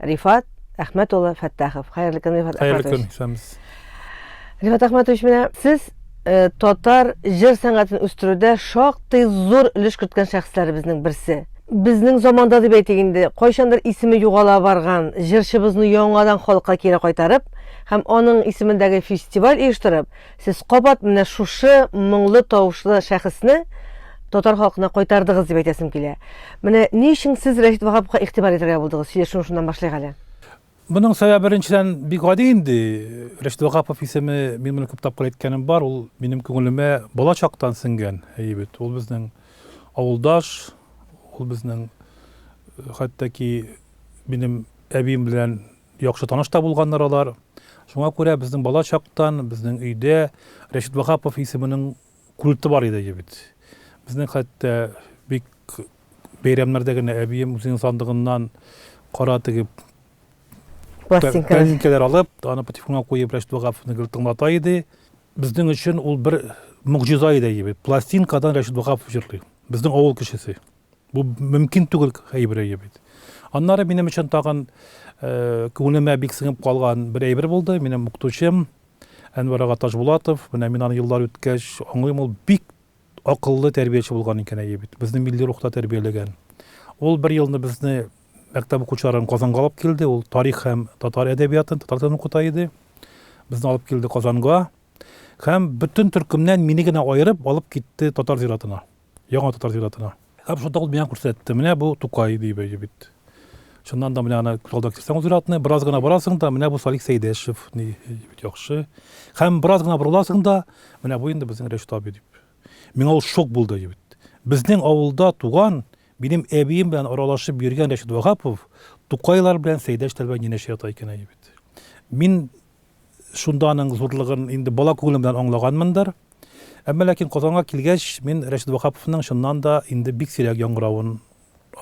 Рифат Әхмәт улы Фәттахов. Хәерле көн, Рифат Әхмәт. Хәерле көн, исәнбез. Рифат Әхмәт улы, менә сез э, татар җыр сәнгатен үстерүдә шактый зур өлеш керткән шәхесләребезнең берсе. Безнең заманда дип әйтик инде, кайчандыр исеме югала барган җырчыбызны яңадан халыкка кире кайтарып һәм аның исемендәге фестиваль оештырып, Сез кабат менә шушы моңлы тавышлы шәхесне татар халкына кайтардыгыз дип әйтәсем килә. Менә ни өчен сез Рәшит Ваһаповка игътибар итәргә булдыгыз? Сөйләшүне шуннан башлыйк әле. Моның сәбәбе беренчедән бик гади инде. Рәшит Ваһапов исеме, мин моны күп тапкыр әйткәнем бар, ул минем күңелемә бала чактан сеңгән, әйе бит. Ул безнең авылдаш, ул безнең хәтта ки минем әбием белән Яхшы таныш та булганнар алар. Шуңа күрә безнең бала чактан, безнең өйдә Рәшит Ваһапов исеменең культы бар иде бит. Безнең хәтта бик бәйрәмнәрдә генә әбием үзенең сандыгыннан кара теге пластинкалар алып, аны патефонга куеп Рәшит Ваһаповны гел тыңлата иде. Безнең өчен ул бер могҗиза иде бит. Пластинкадан Рәшит Ваһапов җырлый. Безнең авыл кешесе. Бу мөмкин түгел әйберәе бит. Аннары минем өчен тагын э, күңелемә бик сеңеп калган бер әйбер булды. Минем укытучым Әнвәр ага Ташбулатов, менә мин аны еллар үткәч аңлыйм, ул бик акыллы тәрбияче булган икән әйе бит. Безне милли рухта тәрбияләгән. Ул бер елны безне мәктәп укучыларын Казанга алып килде. Ул тарих һәм татар әдәбиятын, татар телен укыта иде. Безне алып килде Казанга һәм бөтен төркемнән мине генә аерып алып китте татар зиратына. Яңа татар зиратына. Һәм шунда ул миңа күрсәтте. Менә бу Тукай дип әйтеп бит. Чыннан да менә ана күз алдына китерсәң ул зиратны, бераз гына барасың да, менә бу Салих Сәйдәшев, ни бит яхшы. Һәм бераз гына борыласың да, менә бу инде безнең Рәшит абый дип. Миңа ул шок булды әйтеп бит. Безнең авылда туган, минем әбием белән аралашып йөргән Рәшит Ваһапов Тукайлар белән Сәйдәшләр белән янәшә ята икән әйтеп бит. Мин Шунда аның зурлыгын инде бала күңелем белән аңлаганмындыр. Әмма ләкин Казанга килгәч, мин Рәшит Ваһаповның чыннан да инде бик сирәк яңгыравын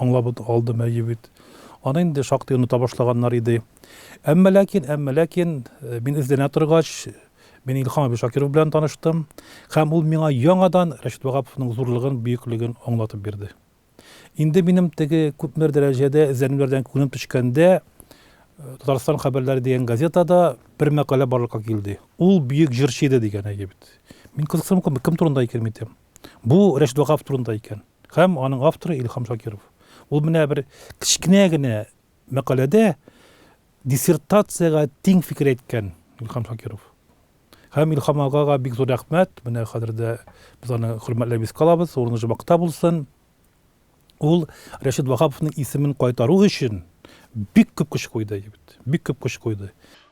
аңлап алдым, әйе бит. Аны инде шактый оныта башлаганнар иде. Әмма ләкин, әмма ләкин, мин эзләнә торгач, мин Илһам абый Шакиров белән таныштым. Һәм ул миңа яңадан Рәшит Ваһаповның зурлыгын, бөеклеген аңлатып бирде. Инде минем теге күпмер дәрәҗәдә эзләнүләрдән күңелем төшкәндә, Татарстан хәбәрләре дигән газетада бер мәкалә барлыкка килде. Ул бөек җырчы иде дигән әйе бит. Мин кызыксынып калдым, кем турында икән бит дим. Бу Рәшит Вагаф турында икән. Һәм аның авторы Илһам Шакиров. Ул менә бер кечкенә генә Мәкаләдә диссертациягә тиң фикер әйткән Илһам Шакиров. Һәм Илһам агага бик зур рәхмәт. Менә хәзер дә без аны хөрмәтләп искә алабыз. Урыны җомакта булсын. Ул Рәшит Ваһаповның исемен кайтару өчен бик күп көч куйды, бик күп көч куйды.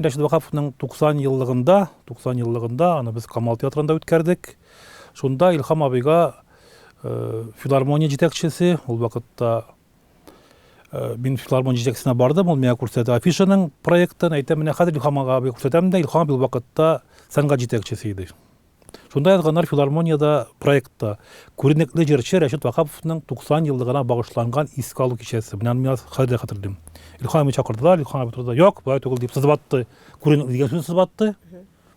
Рәшит Вакаповның 90 еллыгында, 90 еллыгында аны без Камал театрында үткәрдек. Шунда Илхам абыйга э, филармония җитәкчесе, ул вакытта э, мин филармония җитәкчесенә бардым, ул миңа күрсәтте афишаның проектын, әйтә менә хәзер Илхам абыйга күрсәтәм дә, Илхам абый ул вакытта сәнгать җитәкчесе иде. Шунда язганнар филармониядә проектта. Күренекле җырчы Рәшит Ваһаповның 90 еллыгына багышланган искә алу кичәсе. Менә аны мин хәзер дә хәтерлим. Илхан абыны чакырдылар, Илхан абый торды, Юк, болай түгел, дип сызып атты. Күренекле дигән сүзне сызып атты.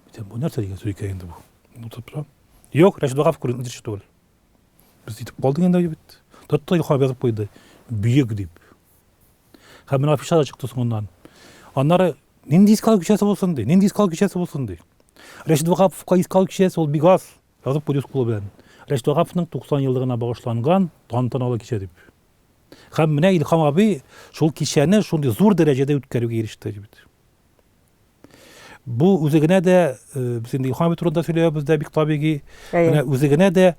Әйтәм, бу нәрсә дигән сүз икән инде бу? Утырып тора. Юк, Рәшит Ваһапов күренекле җырчы түгел. Без итеп калдык инде бит. Тотты Илхан абый язып куйды. Бөек дип. Һәм менә афиша да чыкты соңыннан. Аннары нинди искал кичәсе булсын ди, нинди искал кичәсе булсын ди. Рәшит Вагаповка искал кичәсе ул бик аз, язып куйды кулы белән. Рәшит Вагаповның 90 еллыгына багышланган тантаналы кичә дип. Һәм менә Илһам абый шул кичәне шундый зур дәрәҗәдә үткәрүгә иреште бит. Бу үзе генә дә, без инде Илхам абый турында сөйләбез дә бик табигый. Менә үзе генә дә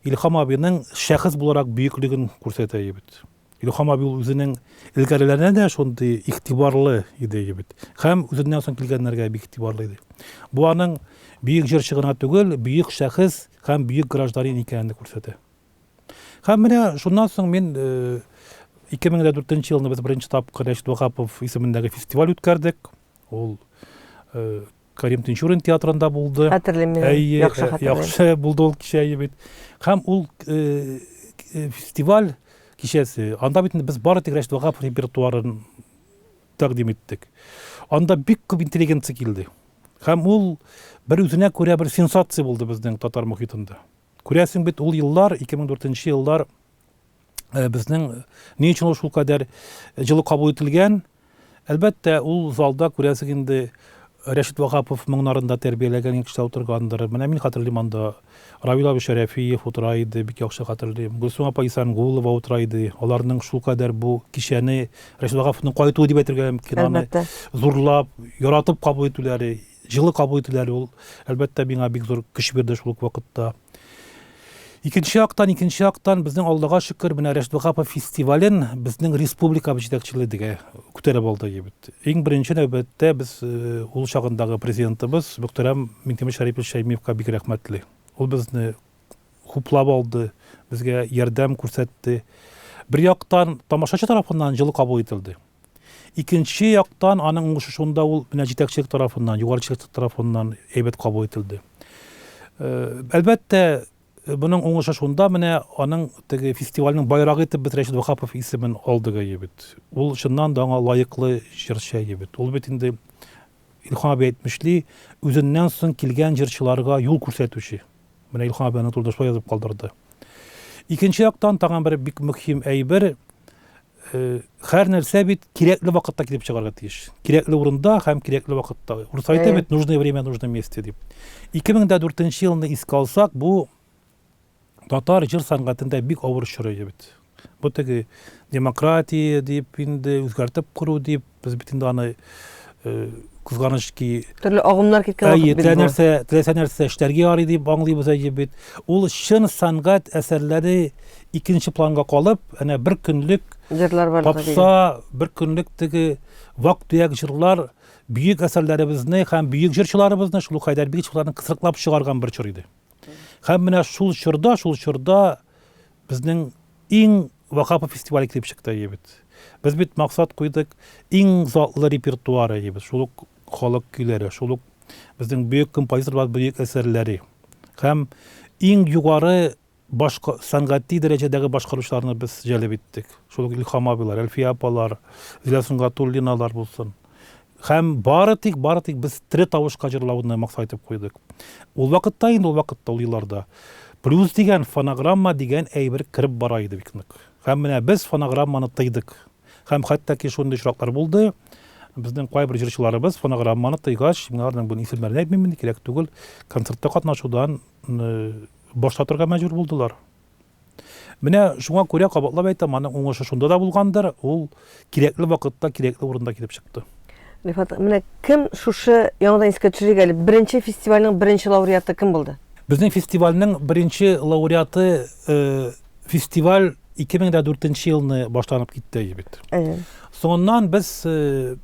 Илхам абыйның шәхес буларак бөеклеген күрсәтә бит. Илхам абый ул үзенең элгәрләренә дә шундый игътибарлы иде бит. Һәм үзеннән соң килгәннәргә бик игътибарлы иде. Бу аның бөек җырчы гына түгел, бөек шәхес һәм бөек гражданин икәнен күрсәтә. Һәм менә шуннан соң мин 2004 елны без беренче тапкыр Рәшит Вахапов исемендәге фестиваль үткәрдек. Ул Карим Тинчурин театрында булды. Хәтерлим мин. Әйе, яхшы хәтерлим. Яхшы булды ул кичә бит. Һәм ул фестиваль кичәсе. Анда бит без бары тик Рәшит Вагап репертуарын тәкъдим иттек. Анда бик күп интеллигенция килде. Һәм ул бер үзенә күрә бер сенсация булды безнең татар мөхитендә. Күрәсең бит ул еллар 2004 еллар э, безнең э, ни өчен ул шулкадәр җылы кабул ителгән? Әлбәттә, ул залда күрәсең инде Рәшит Вагапов моңнарында тәрбияләгән кеше утыргандыр. Менә мин хәтерлим анда. Равил абый Шәрәфиев утыра иде, бик яхшы хәтерлим. Гөлсум апа Исангулова утыра иде. Аларның шул кадәр бу кичәне Рәшит Вагаповның кайтуы дип әйтергә мөмкин. Аны зурлап, яратып кабул итүләре, Җылы кабул ителү әле ул, әлбәттә, миңа бик зур көч бирде шул ук вакытта. Икенче яктан, икенче яктан, безнең Аллага шөкер, менә Рәшит Ваһапов фестивален безнең республикабыз җитәкчелеге күтәреп алды бит. Иң беренче нәүбәттә без э, ул чагындагы президентыбыз мөхтәрәм Минтимер Шәрипович Шәймиевка бик рәхмәтле. Ул безне хуплап алды, безгә ярдәм күрсәтте. Бер яктан, тамашачы тарафыннан җылы кабул ителде. Икенче яктан, аның уңышышында ул менә җитәкчелек тарафыннан, югары җитәкчелек тарафыннан әйбәт кабул ителде. Әлбәттә, моның уңышы шунда менә аның теге фестивальнең байрагы итеп без Рәшит Вахапов исемен алдык әйе бит. Ул чыннан да аңа лаеклы җырчы әйе бит. Ул бит инде Илһам абый әйтмешли, үзеннән соң килгән җырчыларга юл күрсәтүче. Менә Илһам абый аны турында шулай язып калдырды. Икенче яктан, тагын бер бик мөһим әйбер, Хәр нәрсә бит кирәкле вакытта килеп чыгарга тиеш. Кирәкле урында һәм кирәкле вакытта. Урыс әйтә бит, нужное время, нужное месте дип. 2004 елны искә алсак, бу татар җыр сәнгатендә бик авыр чоры бит. Бу теге демократия дип инде үзгәртеп кору дип Без бит инде аны кызганыч ки төрле агымнар киткән вакыт бит бу. нәрсә теләсә нәрсә эшләргә ярый дип аңлыйбыз әйе бит ул чын сәнгать әсәрләре икенче планга калып әнә бер көнлек җырлар бар попса бер көнлек теге вак төяк җырлар бөек әсәрләребезне һәм бөек җырчыларыбызны шул ук хәйдәр бигичевларны кысрыклап чыгарган бер чор иде һәм менә шул чорда шул чорда безнең иң Вакапов фестивале килеп чыкты әйебет. Без бит максат куйдык, иң затлы репертуар әйебет, шул ук халык көйләре, шул ук безнең бөек композиторлар бөек әсәрләре. Һәм иң югары башка сәнгати дәрәҗәдәге башкаручыларны без җәлеп иттек. Шул ук Илхам абыйлар, Әлфия апалар, Зилә Сунгатуллиналар булсын. Һәм бары тик, бары тик без тере тавышка җырлауны максат итеп куйдык. Ул вакытта инде, ул вакытта, ул елларда, блюз дигән, фонограмма дигән әйбер кереп бара иде бик нык. Һәм менә без фонограмманы тыйдык. Һәм хәтта ки шундый очраклар булды, безнең кайбер җырчыларыбыз фонограмманы тыйгач, мин аларның бүген исемнәрен әйтмим инде, кирәк түгел, концертта катнашудан баш тартырга мәҗбүр булдылар. Менә шуңа күрә кабатлап әйтәм, аның уңышы шунда да булгандыр, ул кирәкле вакытта, кирәкле урында килеп чыкты. Рифат, менә кем шушы яңадан искә төшерик әле, беренче фестивальнең беренче лауреаты кем булды? Безнең фестивальнең беренче лауреаты э, фестиваль 2004 елны башланып китте бит. Әйе. Соңыннан без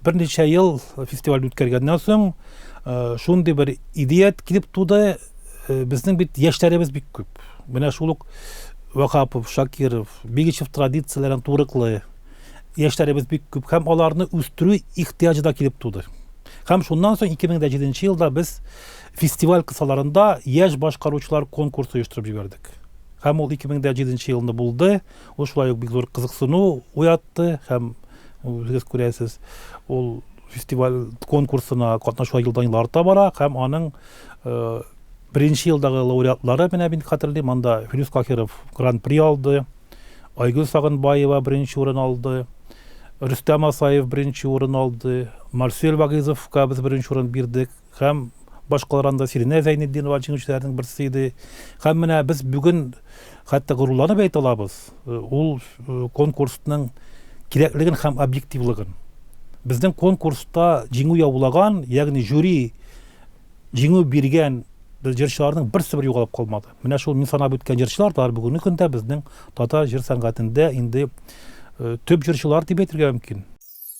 берничә ел фестиваль үткәргәннән соң шундый бер идея килеп туды, безнең бит яшьләребез бик күп. Менә шул ук Вахапов, Шакиров, Бигичев традицияләрен турыклы яшьләребез бик күп һәм аларны үстерү ихтыяҗы да килеп туды. Һәм шуннан соң 2007 елда без фестиваль кысаларында яшь башкаручылар конкурсы оештырып җибәрдек. Һәм ул 2007 елны булды. Ул шулай ук бик зур кызыксыну уятты һәм үзегез күрәсез, ул фестиваль конкурсына катнашулар елдан-ел арта бара һәм аның беренче елдагы лауреатлары, менә мин хәтерлим, анда Филүс Кахиров гран-при алды, Айгөл Сагынбаева беренче урын алды, Рөстәм Асаев беренче урын алды, Марсель Вагыйзовка без беренче урын бирдек. Һәм баш калранда Сиринә Зәйнетдинова җиңүчеләрнең берсе иде. Һәм менә без бүген хәтта горурланып әйтә алабыз, э, ул э, конкурсның кирәклеген һәм объективлыгын. Безнең конкурста җиңү яулаган, ягъни жюри җиңү биргән җырчыларның берсе бер югалып калмады. Менә шул мин санап үткән җырчылар да бүгенге көндә безнең татар җыр сәнгатендә инде э, төп җырчылар дип әйтергә мөмкин.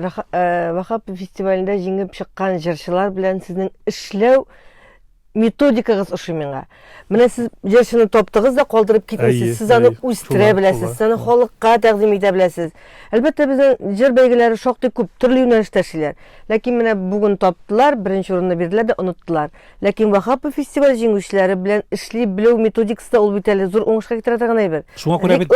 Э, Вахап фестивалендә җиңеп чыккан җырчылар белән сезнең эшләү методикагыз ошый миңа. Менә сез җырчыны таптыгыз да калдырып китмисез. Сез аны үстерә беләсез, сез аны халыкка тәкъдим итә беләсез. Әлбәттә, безнең җыр бәйгеләре шактый күп төрле юнәлештә эшлиләр. Ләкин менә бүген таптылар, беренче урынны бирделәр дә оныттылар. Ләкин Вахапов фестиваль җиңүчеләре белән эшли белү методикасы да ул бит әле зур уңышка китерә торган әйбер. Шуңа күрә бит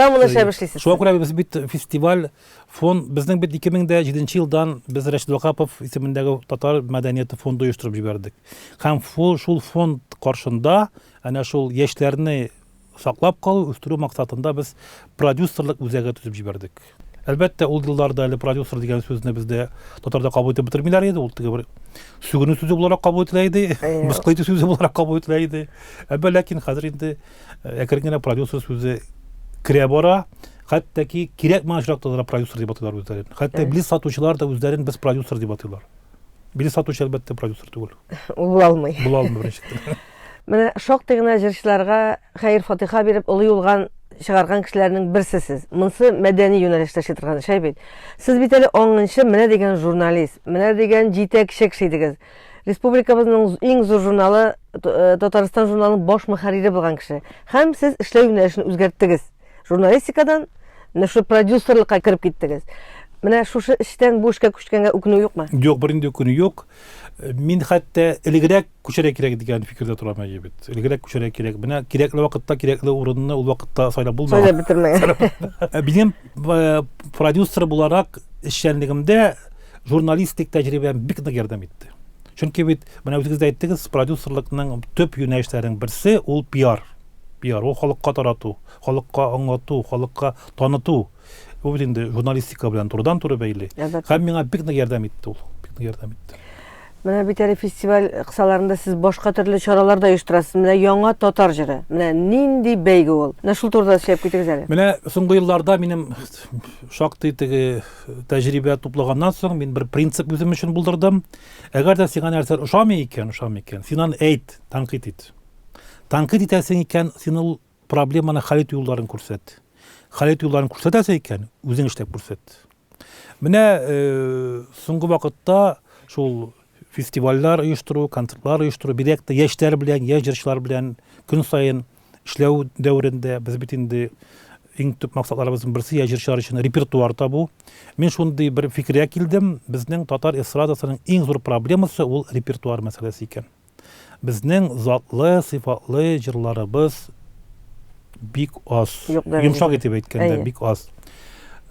шуңа күрә без бит фестиваль Фон безнең бит 2007 елдан без Рәшид Вакапов исемендәге татар мәдәнияты фонды оештырып җибәрдек. Һәм шул фонд каршында әнә шул яшьләрне саклап калу, үстерү максатында без продюсерлык үзәге төзеп җибәрдек. Әлбәттә, ул елларда әле продюсер дигән сүзне бездә татарда кабул итеп бетермиләр иде, ул теге бер сүгенү сүзе буларак кабул ителә иде, мыскыл итү сүзе буларак кабул ителә иде. Әмма ләкин хәзер инде әкрен генә продюсер сүзе керә бара. Хәтта ки кирәк миңа очракта да продюсер дип атыйлар үзләрен. Хәтта билет сатучылар да үзләрен без продюсер дип атыйлар. Билет сатучы әлбәттә продюсер түгел. Ул була алмый. Була алмый беренчедән. Менә шактый гына җырчыларга хәер фатиха биреп олы юлган чыгарган кешеләрнең берсе сез. Монсы мәдәни юнәлештә эшли торган шәй бит. Сез бит әле аңынчы менә дигән журналист, менә дигән җитәкче кеше идегез. Республикабызның иң зур журналы э, Татарстан журналының баш мөхәррире булган кеше. Һәм сез эшләү юнәлешен үзгәрттегез. Журналистикадан менә шу продюсерлыкка кереп киттегез. Менә шушы эштән бу эшкә күчкәнгә үкенү юкмы? Юк, бернинди үкенү юк. Мин хәтта элегрәк күчәргә кирәк дигән фикердә торам әле бит. Элегрәк күчәргә кирәк. Менә кирәкле вакытта кирәкле урынны ул вакытта сайлап булмаган. Сайлап бетермәгән. Минем э, продюсер буларак эшчәнлегемдә журналистик тәҗрибәм бик нык ярдәм итте. Чөнки бит менә үзегез дә әйттегез, продюсерлыкның төп юнәлешләренең берсе ул пиар. Пиар, ул халыкка тарату, халыкка аңлату, халыкка таныту. Бу бит инде журналистика белән турыдан-туры бәйле. Әлбәттә. Һәм миңа бик нык ярдәм итте ул. Бик нык ярдәм итте. Менә бит әле фестиваль кысаларында сез башка төрле чаралар да оештырасыз. Менә яңа татар җыры. Менә нинди бәйге ул. Менә шул турыда сөйләп китегез әле. Менә соңгы елларда минем шактый теге тәҗрибә туплаганнан соң мин бер принцип үзем өчен булдырдым. Әгәр дә сиңа нәрсә ошамый икән, ошамый икән, син аны әйт, тәнкыйть ит. Танкыйт итәсең икән, син ул проблеманы хәл итү юлларын күрсәт. Хәл итү юлларын күрсәтәсең икән, үзең эшләп күрсәт. Менә э, соңгы вакытта шул фестивальләр оештыру, концертлар оештыру, бигрәк тә яшьләр белән, яшь җырчылар белән көн саен эшләү дәверендә без бит инде иң төп максатларыбызның берсе яшь җырчылар өчен репертуар табу. Мин шундый бер фикергә килдем, безнең татар эстрадасының иң зур проблемасы ул репертуар мәсьәләсе икән. Безнең затлы, сыйфатлы җырларыбыз бик аз. Йомшак итеп әйткәндә, бик аз.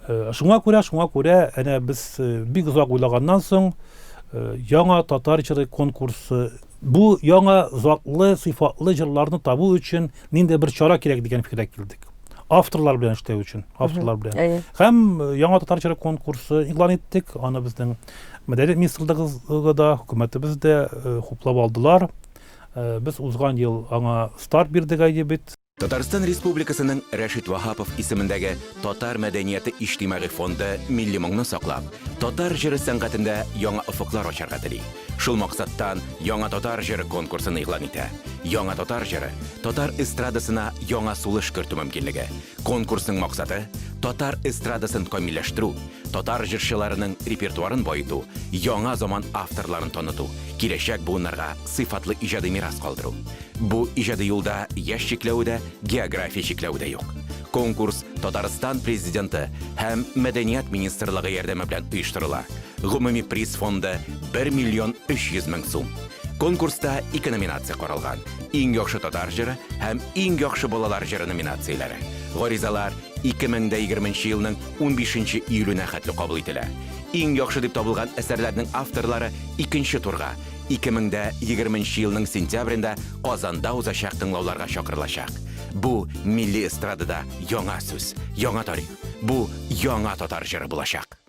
Э, шуңа күрә, шуңа күрә, әнә без э, бик озак уйлаганнан соң э, яңа татар җыры конкурсы бу яңа затлы, сыйфатлы җырларны табу өчен нинди бер чара кирәк дигән фикергә килдек. Авторлар белән эшләү өчен, авторлар белән. Һәм яңа татар җыры конкурсы игълан иттек, аны безнең Мәдәният министрлыгы да, хөкүмәтебез дә э, хуплап алдылар. Э, без узган ел аңа старт бирдек әйе бит. Татарстан Республикасының Рәшит Ваһапов исемендәге Татар мәдәнияты иҗтимагый фонды милли моңны саклап, татар җыры сәнгатендә яңа офыклар ачарга тели. Шул максаттан Яңа татар җыры конкурсын игълан итә. Яңа татар җыры татар эстрадасына яңа сулыш кертү мөмкинлеге. Конкурсның максаты татар эстрадасын камилләштерү, татар җырчыларының репертуарын баету, яңа заман авторларын таныту, киләчәк буыннарга сыйфатлы иҗади мирас калдыру. Бу иҗади юлда яшь чикләве дә, география чикләве дә юк. Конкурс Татарстан Президенты һәм Мәдәният министрлыгы ярдәме белән оештырыла. Гомуми приз фонды, бер миллион өч йөз мең сум. Конкурста ике номинация каралган, Иң яхшы татар җыры һәм Иң яхшы балалар җыры номинацияләре. Гаризалар 2020 нче елның 15 нче июленә хәтле кабул ителә. Иң яхшы дип табылган әсәрләрнең авторлары икенче турга, 2020 нче елның сентябрендә Казанда узачак тыңлауларга чакырылачак. Бу милли эстрадада яңа сүз, яңа тарих. Бу яңа татар җыры булачак.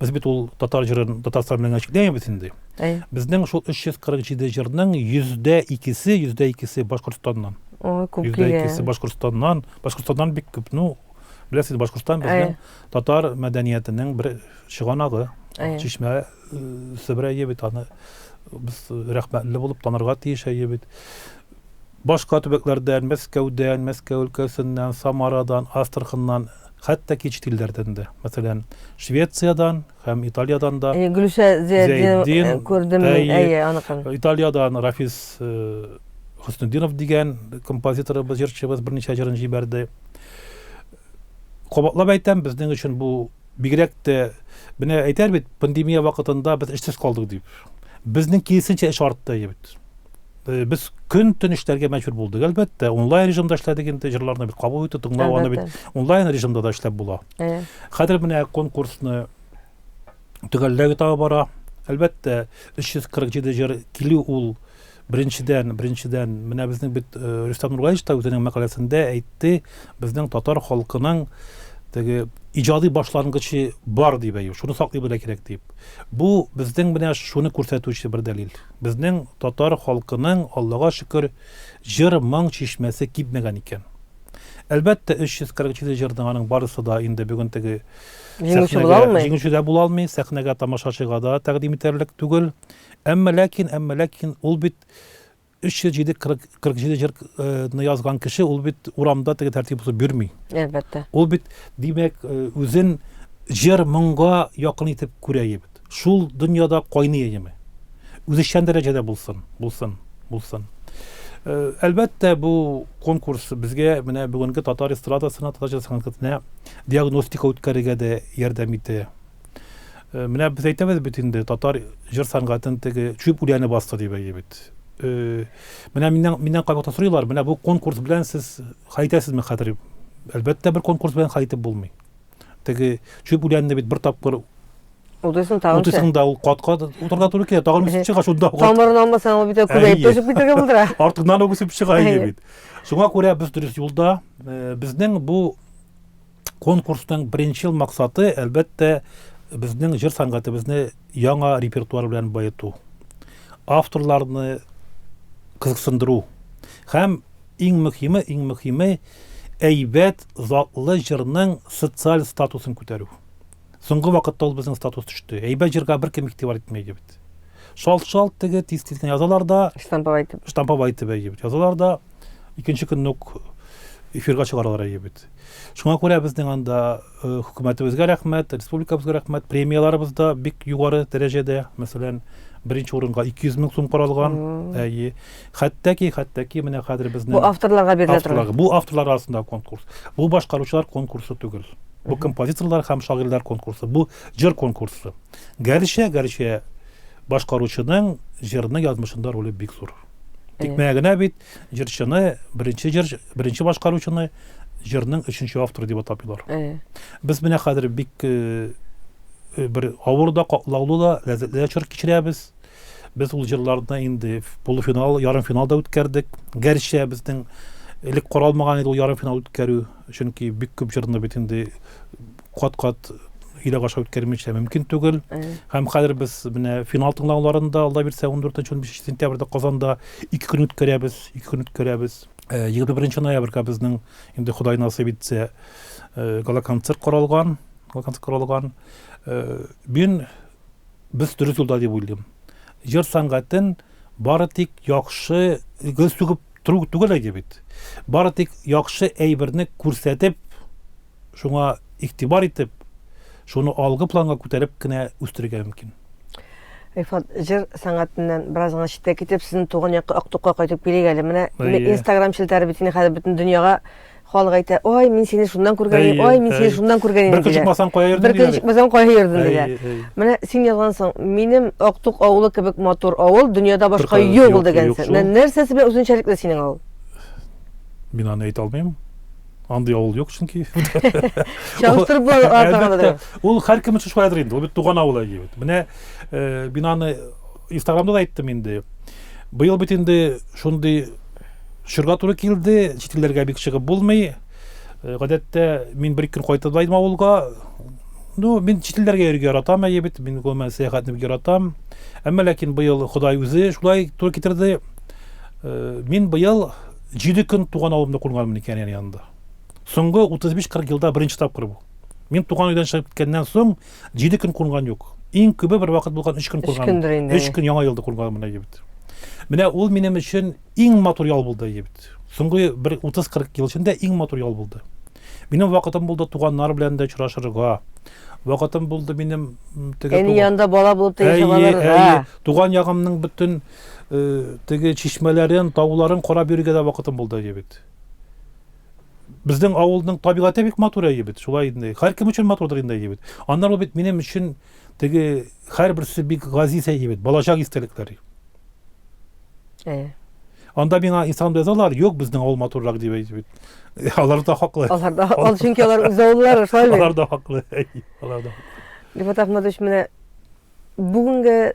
Без бит ул татар җырын Татарстан белән чикләмибез инде. Әйе. Безнең шул 347 җырның 200-се, 200-се Башкортстаннан. Ой, күп килгән. 200-се Башкортстаннан. Башкортстаннан бик күп. Ну, беләсез, Башкортстан безнең татар мәдәниятенең бер чыганагы. Чишмә э, Себер әйе бит аны без рәхмәтле булып танырга тиеш әйе бит. Башка төбәкләрдән, Мәскәүдән, Мәскәү өлкәсеннән, Самарадан, Астраханнан хәтта кече телләрдән дә, мәсәлән, Швециядән һәм Италиядән дә. Әйе, Гөлүсә Зыятдинова күрдем мин, әйе, аныкын. Италиядән Рафис Хөснетдинов дигән композиторыбыз, җырчыбыз берничә җырын җибәрде. Кабатлап әйтәм, безнең өчен бу бигрәк тә, менә әйтәр бит, пандемия вакытында без эшсез калдык дип. Безнең киресенчә эш артты әйе бит. Без көн-төн эшләргә мәҗбүр булдык, әлбәттә. Онлайн режимда эшләдек инде, җырларны бит кабул итү, тыңлау аны бит онлайн режимда да эшләп була. Хәзер менә конкурсны төгәлләү этабы бара. Әлбәттә, 347 җыр килү ул беренчедән, беренчедән, менә безнең бит э, Рөстәм Нургалич та үзенең мәкаләсендә әйтте, безнең татар халкының теге иҗади башлангычы бар дип әйю, шуны саклый белә кирәк дип. Бу безнең менә шуны күрсәтүче бер дәлил. Безнең татар халкының, Аллага шөкер, җыр-моң чишмәсе кипмәгән икән. Әлбәттә, 347 җырның аның барысы да инде бүген теге сәхнәгә җиңүче дә була алмый, сәхнәгә тамашачыга да тәкъдим итәрлек түгел. Әмма ләкин, әмма ләкин ул бит 347 47 җырны язган кеше ул бит урамда теге тәртип бозып йөрми. Әлбәттә. Ул бит димәк э, үзен җыр моңга якын итеп күрә бит. Шул дөньяда кайный яме. Үзешчән дәрәҗәдә булсын, булсын, булсын. Э, әлбәттә бу конкурс безгә менә бүгенге татар эстрадасына, татар җыр сәнгатенә диагностика үткәрергә дә ярдәм итә. Э, менә без әйтәбез бит инде татар җыр сәнгатен теге чүп үләне басты дип әйе бит э, менә миннән миннән кайвакыт сорыйлар менә бу конкурс белән сез хәйтәсезме хәзер әлбәттә бер конкурс белән хәйтеп булмый теге чүп үләнне бит бер тапкыр Утысын тагын. Утысын да ул катка утырга туры килә. Тагын үсеп чыга шунда. Тамырын алмасаң ул бит күбәеп төшеп китәргә булдыра. Артыннан үсеп чыга иде бит. Шуңа күрә без дөрес юлда. Э, безнең бу Конкурсның беренчел максаты, әлбәттә, безнең җыр сәнгатебезне яңа репертуар белән баету. Авторларны кызыксындыру. Һәм иң мөхиме, иң мөхиме әйбәт, затлы җырның социаль статусын күтәрү. Соңгы вакытта ул безнең статус төште. Әйбәт җырга беркем игътибар итми иде бит. Шалт-шалт теге тиз-тиз генә язалар да, штамповать итеп. Штамповать итеп әйе бит. Язалар да икенче көнне үк эфирга чыгаралар әйе бит. Шуңа күрә безнең анда э, хөкүмәтебезгә рәхмәт, республикабызга рәхмәт, премияларыбыз да бик югары дәрәҗәдә. Мәсәлән, беренче урынга 200 мең сум каралган. Әйе. Хәтта ки, хәтта ки менә хәзер безнең Бу авторларга бирелә торган. Бу авторлар арасында конкурс. Бу башкаручылар конкурсы түгел. Бу композиторлар һәм шагыйрьләр конкурсы. Бу җыр конкурсы. Гәрчә, гәрчә башкаручының җырны язмышында роле бик зур. Тик менә генә бит җырчыны беренче җыр, беренче башкаручыны җырның өченче авторы дип атапыйлар. Без менә хәзер бик э, э, бер авыр да, катлаулы да, ләззәтле дә чор кичерәбез. Без ул җырларны инде полуфинал, ярым финал да үткәрдек. Гәрчә безнең элек каралмаган иде ул ярым финал үткәрү, чөнки бик күп җырны бит инде кат-кат йөрәк аша үткәрмичә мөмкин түгел. Һәм хәзер без менә финал тыңлауларын да алда бирсә 14-15 сентябрьдә Казанда ике көн үткәрәбез, ике көн үткәрәбез. 21 ноябрьгә безнең инде Ходай насыйп итсә гала концерт каралган, гала концерт каралган. Мин без дөрес юлда дип уйлыйм. Җыр сәнгатен бары тик яхшы гел сүгеп тору түгел әйди бит. Бары тик яхшы әйберне күрсәтеп шуңа игътибар итеп, шуны алгы планга күтәреп кенә үстерергә мөмкин. Рифат, җыр сәнгатеннән бераз гына читтә китеп, сезнең туган якка Актукка кайтып килик әле. Менә Инстаграм челтәре бит инде хәзер бөтен дөньяга халык әйтә, ой, мин сине шуннан күргән идем, ой, мин сине шуннан күргән идем. Бер көн чыкмасаң кая йөрдең? Бер көн чыкмасаң кая йөрдең дигән. Менә син язгансың, минем Актук авылы кебек матур авыл дөньяда башка юк ул дигәнсең. Нәрсәсе белән үзенчәлекле синең авыл? Мин аны әйтә алмыйм. Андый авыл юк, чөнки. Чагыштырып була атамадыр. Ул һәркем өчен шулайдыр инде. Ул бит туган авыл әйе бит. Менә э, бинаны Инстаграмда да әйттем инде. Быел бит инде шундый чорга туры килде, чит илләргә бик чыгып булмый. Э, гадәттә мин бер көн кайтып да авылга. Ну, мин чит илләргә йөрергә яратам, әйе бит. Мин гомумән сәяхәтне бик яратам. Әмма ләкин быел Ходай үзе шулай туры китерде. Э, мин быел Җиде көн туган авылымны күрмәдем мин Кәрияр янында. Соңгы 35-40 елда беренче тапкыр бу. Мин туган өйдән чыгып киткәннән соң җиде көн кунган юк. Иң күбе бер вакыт булган өч көн кунган. Өч көн яңа елда кунган менә егет. Менә ул минем өчен иң матур ял булды егет. Соңгы бер 30-40 ел эчендә иң матур ял булды. Минем вакытым булды туганнар белән дә очрашырга. Вакытым булды минем теге Әни янында бала булып та яшәп алырга. Туган ягымның бөтен теге чишмәләрен, тауларын карап йөрергә дә вакытым булды әйе бит. Безнең авылның табигате бик матур әйе бит, шулай инде. Һәркем өчен матурдыр инде әйе бит. Аннары ул бит минем өчен теге һәрберсе бик газиз әйе бит, балачак истәлекләр. Әйе. Анда миңа инстаграм язалар, юк безнең авыл матуррак дип әйтеп бит. Алар да хаклы. Алар да хаклы, чөнки алар үз авыллары, шулай бит. Алар да хаклы. Алар да. Рифат Ахмадович, менә Бүгенге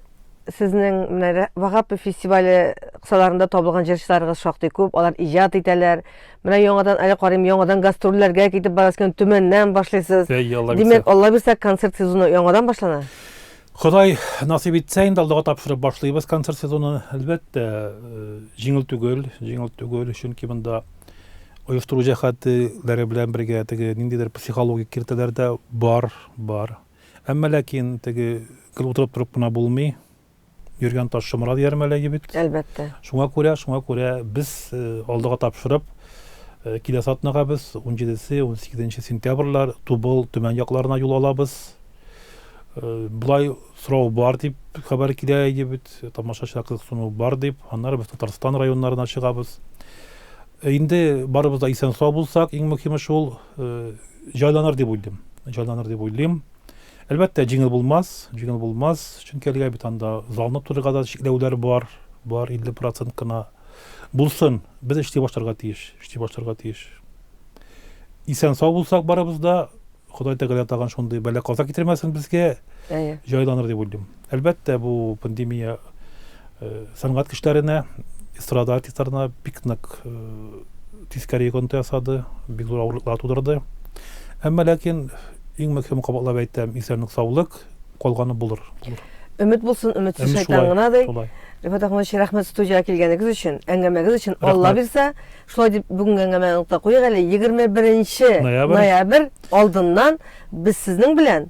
сезнең менә Рә- Вагапов фестивале кысаларында табылган җырчыларыгыз шактый күп, алар иҗат итәләр. Менә яңадан әле карыйм, яңадан гастрольләргә китеп барасыз икән, Төмәннән башлыйсыз. Әйе, Алла бирсә. Димәк, Алла бирсә, концерт сезоны яңадан башлана? Ходай насыйп итсә, инде Аллага тапшырып башлыйбыз концерт сезонын. Әлбәттә, э, җиңел түгел, җиңел түгел, чөнки монда оештыру җәһәтләре белән бергә теге ниндидер психологик киртәләр дә бар, бар. Әмма ләкин теге гел утырып торып кына булмый. Йөргән таш шомыра дияр мәләге бит. Әлбәттә. Шуңа күрә, шуңа күрә без э, алдыга тапшырып, э, киләсе атнага без 17-се, 18-нче сентябрьләр Тубыл, Төмән якларына юл алабыз. Э, Булай сорау бар дип хәбәр килә иде бит, тамашачылар кызыксыну бар дип. Аннары без Татарстан районнарына чыгабыз. Э, Инде барыбыз да исән сау булсак, иң мөһиме шул, җайланыр дип уйлыйм. Җайланыр дип уйлыйм. Әлбәттә, җиңел булмас, җиңел булмас, чөнки әлегә бит анда залны тулырга да чикләүләр бар, бар 50% кына. Булсын, без эшли башларга тиеш, эшли башларга тиеш. Исән сау булсак барыбыз да, Ходай Тәгалә тагын шундый бәла-каза китермәсен безгә. Әйе. Җайланыр дип уйлыйм. Әлбәттә, бу пандемия сәнгать кешеләренә, эстрада артистларына бик нык тискәре йогынты ясады, бик зур авырлыклар тудырды. Әмма ләкин иң мөһиме кабатлап әйтәм, исәнлек, саулык, калганы булыр, булыр. Өмет булсын, өметсез шайтан гына, ди. Рифат Ахматович, рәхмәт студиягә килгәнегез өчен, әңгәмәгез өчен. Алла бирсә, шулай дип бүгенге әңгәмәне нокта куйыйк әле. 21 ноябрь алдыннан без сезнең белән